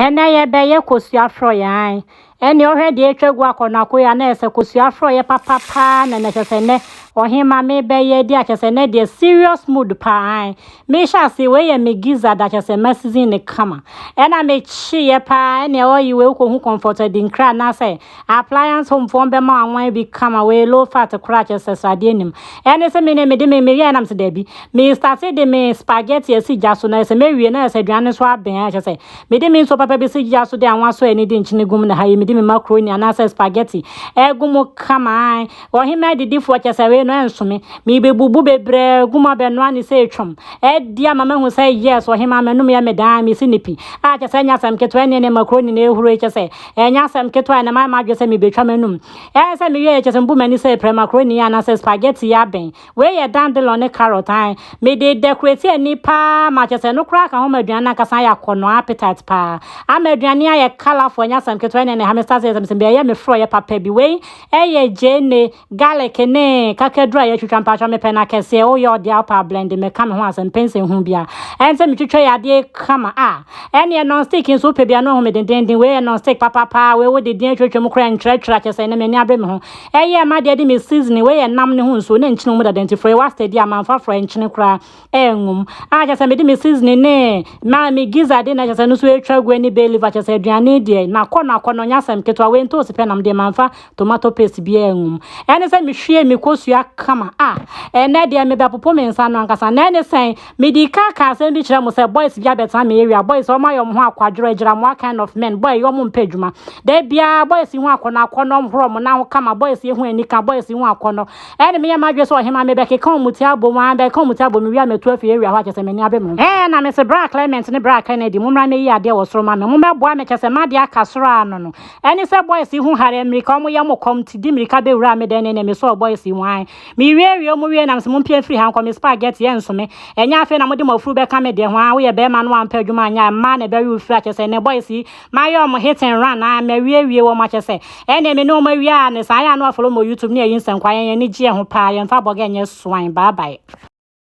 Ɛnɛ yɛbɛyɛ kosua frɔyɛ ae. Ɛnneɛ ɔhwɛ deɛ atwa gu akɔ no akoyɛ a na ɛsɛ kosua frɔyɛ papa paa na na kyɛ sɛ nɛ ɔhema mebɛyɛ adi akyɛ sɛ nɛ deɛ serious mood paa ae. Mehyɛ ase wei yɛ me giza da kyɛ sɛ ma season ne kama. Ɛna mekyeeɛ paa ɛnneɛ ɔyi wei wokɔhu comfort adi nkra anaasɛ Appliance Home foɔ bɛma wo anwan bi kama wei low fat koraa kyɛ sɛ sradeɛ nim ɛne sɛ me ne mede me meyɛɛ nam sɛ daabi me starte de me spaghetti asi gya so na ɛsɛ mɛwie na ɛsɛ aduane nso abɛn a kyɛ sɛ mede me nsuo papa bi si gya so de anwa sɔ ani de nkyene gum na ha yi mede me macaroni anaasɛ spaghetti ɛgu mu kama ae ɔhemmaa didifoɔ kyɛ sɛ wei no ɛnso me mebɛbubu bebree agu mu abɛnoa ne sɛ ɛtwam ɛdi ama mahu sɛ yes ɔhemmaa m'anom yɛ me daa mesi ne pi a kyɛ sɛ ɛnyɛ asɛm ketewa ɛneɛ ne macaroni na ɛhuro yi kyɛ sɛ Ɛnyɛ asɛm ketewa a na mayɛ m'adwene sɛ mebɛtwa m'anom. Ɛyɛ sɛ meyɛɛ kyɛ sɛ mebu m'ani sɛ ɛpere macaroni anaasɛ spaghetti yi abɛn. Wei yɛ dandelion ne carrot ae. Mede dekoreti ani paa ma kyerɛ sɛ ɛno koraa ka ho ma aduane no ankasa ayɛ akɔnnɔ, appetite, paa. Ama aduane ayɛ colourful, ɛnyɛ asɛm ketewa. Ɛnneɛ na ɛha me sɛ asɛ yɛ sɛ mesɛ mebɛyɛ me forɔeɛ papa bi. Wei yɛ gyeene. Garlic ne kakaduru a yɛatwitwa mpaatwa mepɛ na kɛseɛ woyɛ oh, ɔde alpa blend meka me ho asɛm mpɛ nsɛ hu bia ɛne sɛ metwitwa yɛ adeɛ kama a ah. ɛneɛ non stick nso wopɛ bia no ahu me dendenden wei yɛ non stick papapaa wei wode din atwatwa mu koraa ntwerɛtwerɛ akyɛ sɛ ɛnɛ m'ani abre me ho ɛyɛ ma deɛ de me seasoning wei yɛ nam ne ho nsuo na nkyene wɔ mu dada nti frɔe wɔ astadi a mamfa frɔe nkyene koraa ɛngum a kyɛ sɛ mede me seasoning ne ma me giza de na kyɛ sɛ no so atwa gu ne bay leaf kyɛ sɛ aduane deɛ nakɔ nakɔ no ɔnyɛ asɛm ketewa wei ntoosi pɛ nam deɛ manfa tomato paste bi ɛngum ɛne sɛ mehwie me kosua kama a ɛnɛ deɛ mebɛpopo me nsa no ankasa na ɛne sɛn mede ka ka asɛm bi kyerɛ mo sɛ boys bi abɛtena me area boys ɔmo ayɛ ɔmo ho akwadworɔ agyira mo kind of men boy yɛ ɔmo mpɛ adwuma da biara boys yi ho akɔnɔ akɔnɔ ɔmo horo ɔmo nan ho kama boys yi ho anika boys yi ho akɔnɔ Ɛnde meyɛ m'adwene sɛ ɔhemmaa mebɛkeka ɔmuti abom aa mebɛkeka ɔmuti abom mewie a matu afiri awia hɔ a kyerɛ sɛ m'ani abem no. Ɛɛ na mese Bra Clement ne Bra Kennedy mommra mmɛyi adeɛ wɔ soro ma me, mommɛboa me kyerɛ sɛ m'adeɛ aka soro aa no no ɛne sɛ boys yi ho hare mmirika ɔmo yɛ mo kɔm nti de mmirika bɛwuraa me dan mu ɛnneɛ mesɔɔ boys yi mu ae mewiawie ɔmo wiei na mese mompia mfiri ha nkɔ me spa get yɛ nso me ɛnyɛ afei na mode mo afuru bɛka me deɛ ho aa woyɛ bɛɛma na woampɛ adwuma anyɛ a mmaa na ɛbɛwe wo firi a kyerɛ sɛ ɛnɛ boys yi Mayɛ wɔn hit and run aa mawiewie wɔn akyɛ sɛ ɛnneɛ me ne wɔn awie aa ne saa ɛyɛ a na wafolo mɔ YouTube ne ayi nsɛnkwaa yɛn ani gyeɛ ho paa yɛnfa bɔga nyɛ swan bye bye.